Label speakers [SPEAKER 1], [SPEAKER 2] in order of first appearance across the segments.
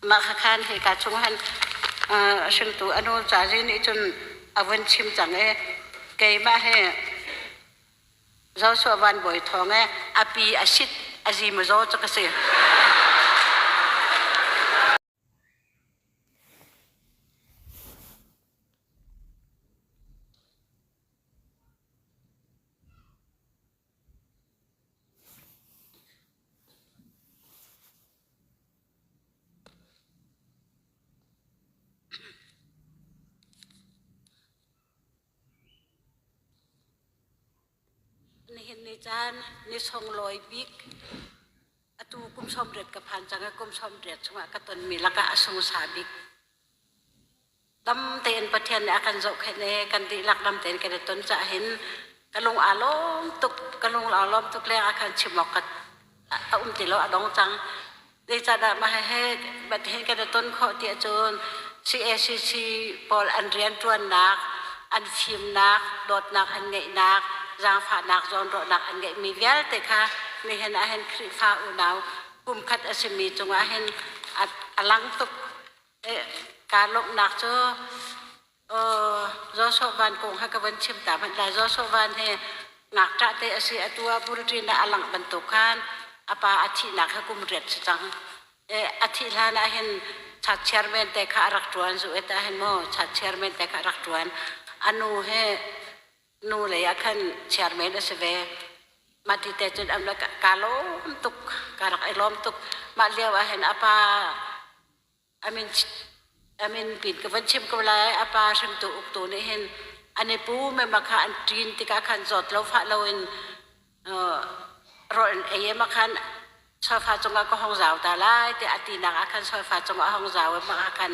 [SPEAKER 1] Mah kha khan hika chung han hringtu a nu ca zin nih cun a vun chim cang i keimah hi Joshua Van Bawi Thawng i a pi a sit a zi maw zaw cu ka si. Nihin ni caan ni sunglawi bik atu kum sawm riat ka phan cang i kum sawm riat chungah ka tonmi lakah a sungsa bik. tam tein Pathian nih a kan zohkhenh i kan dihlak lam tein kan i ton caah hin ka lung aa lawm tuk ka lung aa lawm tuk leng ah khan chim awk ka a um ti lo a dong cang zeicahdah mah hihi Pathian kan i ton khawh tiah cun CACC pawl an rianṭuannak an fimnak dawtnak an ngeihnak zaangfahnak zawnruahnak an ngeihmi vialte kha nihin ah hin Khrihfa unau kumkhat a simi cungah hin a lang tuk kaa lawmhnak cu Zaw Soh Van kong kha ka van chim ta hmanh lai. Zaw Soh Van hi ngakṭah te a si. Atu ah bulṭin ah a langh bantuk khan a pa a thihnak hi kum riat si cang. A thih hlan ah hin chat chairman te kha a rak ṭuan, zu et ah hin maw chat chairman te kha a rak ṭuan. A nu hi nu lei ah khan chairman a si ve. Mah ti te cun an rak kaa lawm tuk, kaa rak i lawm tuk. Mah lio ah hin a pa a min a min pin ka von chim ko lai, a pa hringtu uktu nih hin an i pu mema kha an ṭin tikah khan zawt lo fah loin rawl an ei ah khan sofa cungah ka hong zau ta lai tiah a tinak ah khan sofa cungah a hong zau i mah ah khan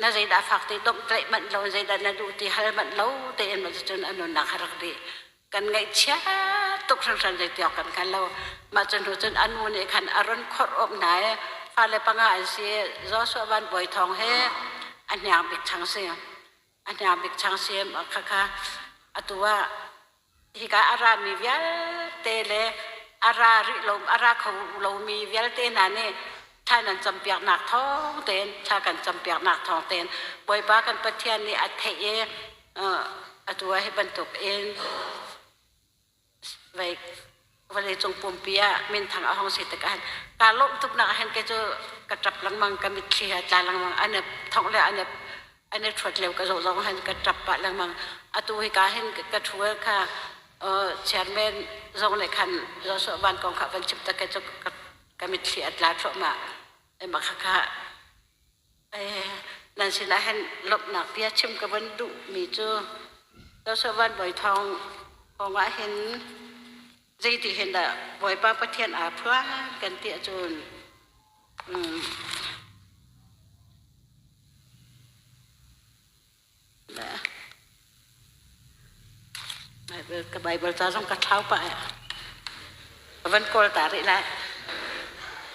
[SPEAKER 1] Na zeidah a fak ti domhtlaih manh lo, zeidah na duh ti hal manh lo tein maw cucun a nunnak a rak dih. Kan ngaihchia tuk hringhran zei tiawk kan hngal lo. Mah cu hnu cun a nu nih khan a run khawrh awk hna i fale panga an si. Joshua Van Bawi Thawng he a hniang bik chang si. a hniang bik changsim khakha atu ah hika a rami vialte le a ra rih lo a ra kho lomi vialte hna nih thla nan campiaknak thawng tein thla kan campiaknak thawng tein Bawipa kan Pathian nih a theih i atu ah hi bantuk in Vai vawleicung pumpi ah minthang a hong si tikah kaa lawmh tuknak ahhin kei cu ka ṭap lengmang ka mitthli he tla lengmang an i thongh le an i an i ṭhuat lio ka zoh zong hin ka ṭap pah lengmang atu hika hin ka ṭhu kha chairman zong le khan Joshua Van kong kha van chim tak kei cu ka mitthli a tla thluahmah. Emma khakha nan sinah hin lawmhnak bia chim ka vun duhmi cu Dosavan Bawi Thawng kongah hin zeiti hin dah Bawipa Pathian aa phuan kan ti ahcun um, Ka Bible ca zong ka thau pah eh. Ka van kawl ta rih lai.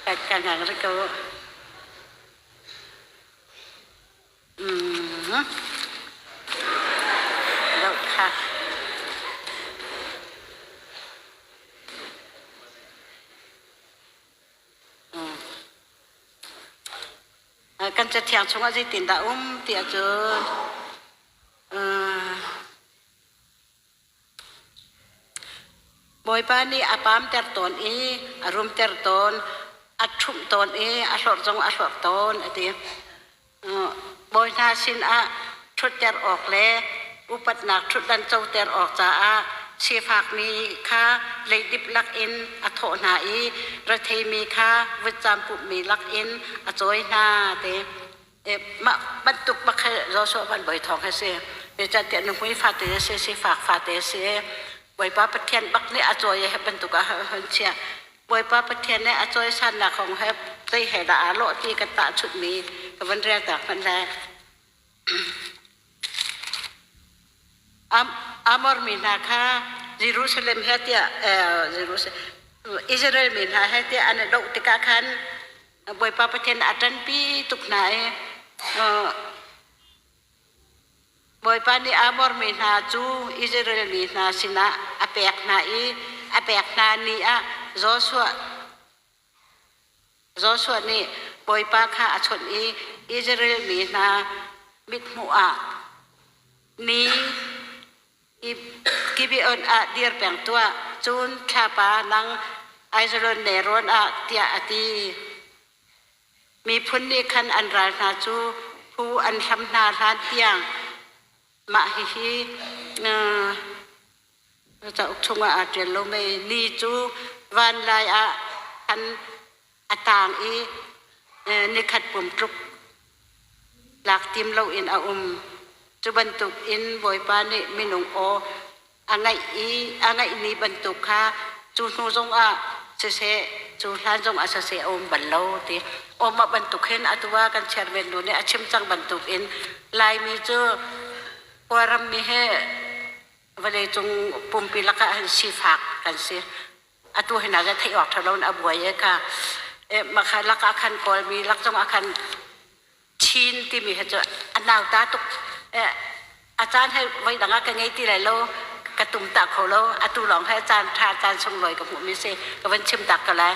[SPEAKER 1] Ka ka ngang rih ko. Mm-hmm. Dok ha. Mm. kan cathiang chungah zeitindah um tiah cun Bawipa nih a pamter tawn i a rumter tawn, a ṭhumh tawn i a hlorh zong a hlorh tawn a ti. Bawi hna sinah ṭhutter awk le upatnak ṭhutdan coter awk caah sifakmi kha leidip lakin a thawh hna i retheimi kha vutcam pumhmi lakin a cawi hna ti mah bantuk bakhe Joshua van bawi thawng he si zeicahtiah nuhmui fate a si sifak fate a si Bawipa Pathian bak nih a cawi he bantuk ah hun chiah Bawipa Pathian nih a cawi sannak kong he zei he dah aa lawh ti kan tahchunhmi ka van rial tak hmanh lai Amor mi hna kha Jerusalem he tiah Israel mi hna he tiah an i doh tikah khan Bawipa Pathian a ṭanpi tuk hna i Bawipa nih Amor mi hna cu Israel mi hna sinah a pek hna i a pek hna ni ah Joshua Joshua nih Bawipa kha a chawnh i Israel mi hna mithmuh ah mi Gibeon ah dir peng tuah, cun thlapa nang Aijalon nelrawn ah, tiah a ti. Miphun nih khan an ral hna cu phu an hlam hna hlan tiang mah hihi Na cauk chungah aa ṭial lomi ni cu vanlai ah khan a tang i nikhat pum tluk lak tim loin a um. Cu bantukin Bawipa nih minung aw a ngeih i a ngeihmi bantuk kha cu hnu zongah siseh, cu hlan zongah siseh a um bal lo ti. Um a bantuk hin atu ah kan chairman nu nih a chim cang bantukin Laimi cu Kawlrammi he vawleicung pumpi lakah hin sifak kan si atu hina le theih awk thalo in a buai e ka e makha lak ah khan kawlmi lak zong ah khan chin timi he cu a nau ta tuk e a caan he voi dang ah ka ngei ti lai lo ka tum ta kho lo atu lawng he caan tha caan sunglawi ka hmuh mi si ka van chim tak ka lai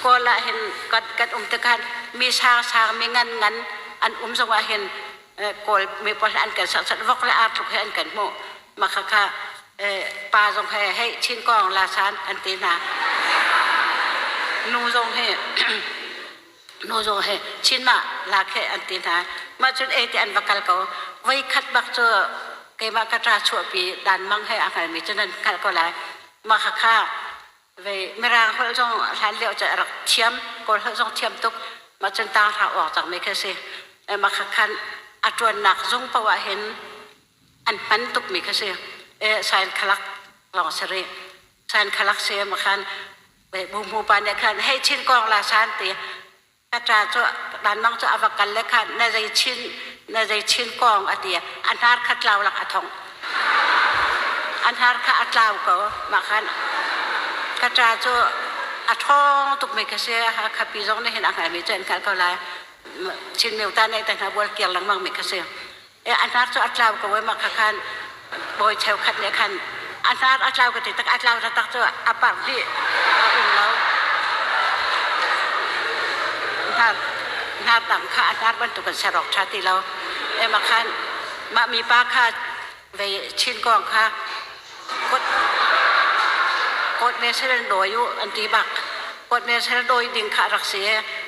[SPEAKER 1] kawl ah hin kat kat um te khan mi sang sang mi ngan ngan an um zong ah hin kawl mepawl an kan sasat vok le arthuk he an kan hmuh makhakha pa zong he hei chin kong la san an ti hna nu zong he nu zong he chin ma la khe an ti hna mah cun e ti an va kal ko voi khat bak cu keimah ka tra chuahpi dan mang he a hngalmi cu nan kalh ko lai makhakha Ve Mirang holh zong hlan lio cu a rak thiam. Kawl holh zong thiam tuk. Mah cun tang hra uak cangmi khi a si. Mah kha khan a ṭuannak zung paoh ah hin an hman tukmi khi a si. Sain khalak lawng a si rih. Sain khalak si mah khan bu hmu pa nih khan hei chin kawng la san ti na ṭa cu vanlawng cu a va kal le kha na zei chin na zei chin kong a ti a hnar kha tlau lak a thongh a hnar kha a tlau ko mah khan ka ṭa cu a ṭhawng tukmi ka si Hakha pi zong nih hin a hngalmi cu an hngalh ko lai Chin meuta nih ta hna bual kiar lengmang mi ka si a hnar cu a tlau ko ai mah kha khan bawi cheukhat nih khan a hnar a tlau ka ti tak a tlau taktak cu a parh dih a um lo hnar hnar dang kha a hnar bantuk in serok ṭha ti lo e ma khan mah mipa kha vei chin kong kha Court National dawi u an ti bak. Court National dawi ding kha rak si.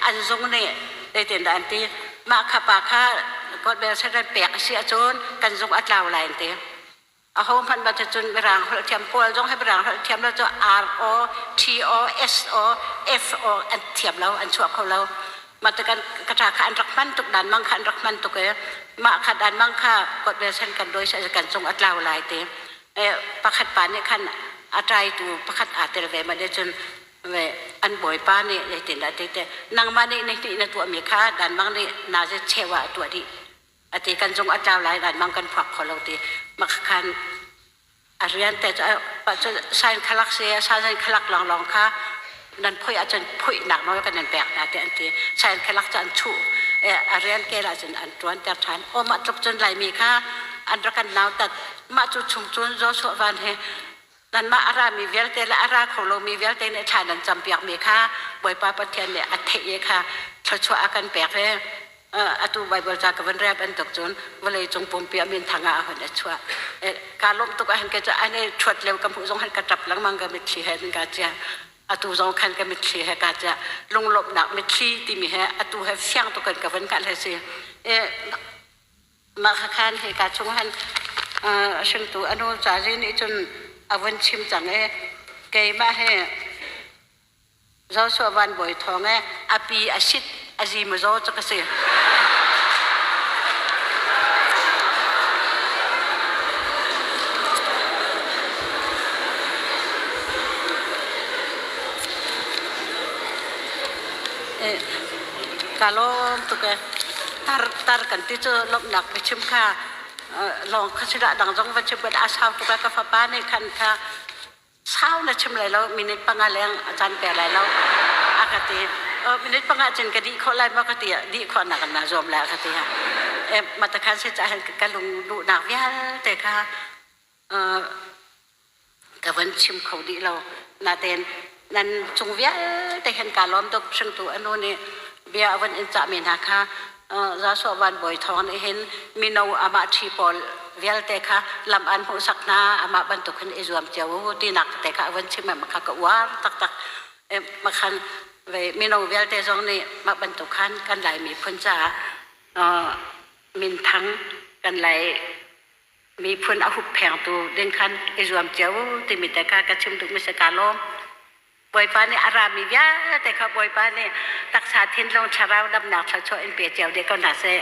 [SPEAKER 1] An zung nih tetin da an ti. Mah kha pa kha Court National pek a si ahcun kan zung a tlau lai an ti. A ho hmanh ba cun Mirang holh thiam Kawl zong he Mirang holh thiam lo cu R O T O S O F O an thiam lo an chuah kho lo. mata kan kata kha an rak hman tuk dan mang kha an rak hman tuk i mah kha dan mang kha kuat ve sen kan doi sa kan cung atlau lai te pakhat pa nih khan atai tu pakhat aa tel ve ma de cun ve an bawipa nih zeitin dah te te nangmah nih na nih na tuah mi kha dan mang nih na ze chewa a tuah dih ati kan zung a tlau lai vanmang kan phuak kho lo ti makhakhan a rian te cu pa cu sain khalak si sain khalak lawnglawng kha nan phui ahcun phui nak nawl kan nan pek hna ti an ti sain khalak cu an chu a rian ke lah cun an tuan ter than o mah tluk cun laimi kha an ra kan nau tat mah cu chung cun zo so van he Nanmah a rami vialte le a ra kho lomi vialte nih thla nan campiakmi kha Bawipa Pathian nih a theih i kha thluachuah a kan pek i atu Baibal ca ka vun rel bantuk cun vawleicung pumpi ah minthang ah a hun a chuah. Kaa lawmh tuk ahhin kei cu an i ṭhuat lio ka hmuh zong hin ka ṭap lengmang, ka mitthli he nan kaa ciah. Atu zong khan ka mitthli he kaa ciah. Lunglawmhnak mitthli timi hi atu he fiang tuk in ka vun hngalh hi a si. Mahakhan he ka chung han hringtu anu ca zi nih cun a vun chim cang i keimah hi Joshua Van Bawi Thawng i a pi a sit a zi maw zaw cu ka si. ka lawm tuk e tar tar kan ti cu lomhnak ka chim kha lawng kha si dang zong va chim a sau tuk ka fapa nih khan kha sau na chim lai lo minute panga leng a chan pe lai lo a ka ti minute panga cin ka dih khawh lai maw ka ti dih khawh nak na zuam la ka ti mata khan si cha ka lung lu nak vialte kha ka van chim kho dih lo. Natein nan cung vialte hen kaa lawm tuk hringtu anu nih bia a van in cahmi hna kha Joshua Van Bawi Thawng nih hin mino amah ṭhi pawl vialte kha lam aan hmuhsak hna amah bantuk hin i zuam cio u tinak te kha a van chim i makha ka uar taktak makhan mino vialte zong nih mah bantuk khan kan lai miphun caah minthang kan lai miphun a hupphengtu din khan i zuam cio timi te kha ka chim duh mi si ka lawm bawipa nih a rami vialte kha bawipa nih taksa thinlung thlarau damnak thluachuah in pe cio deh ko hna seh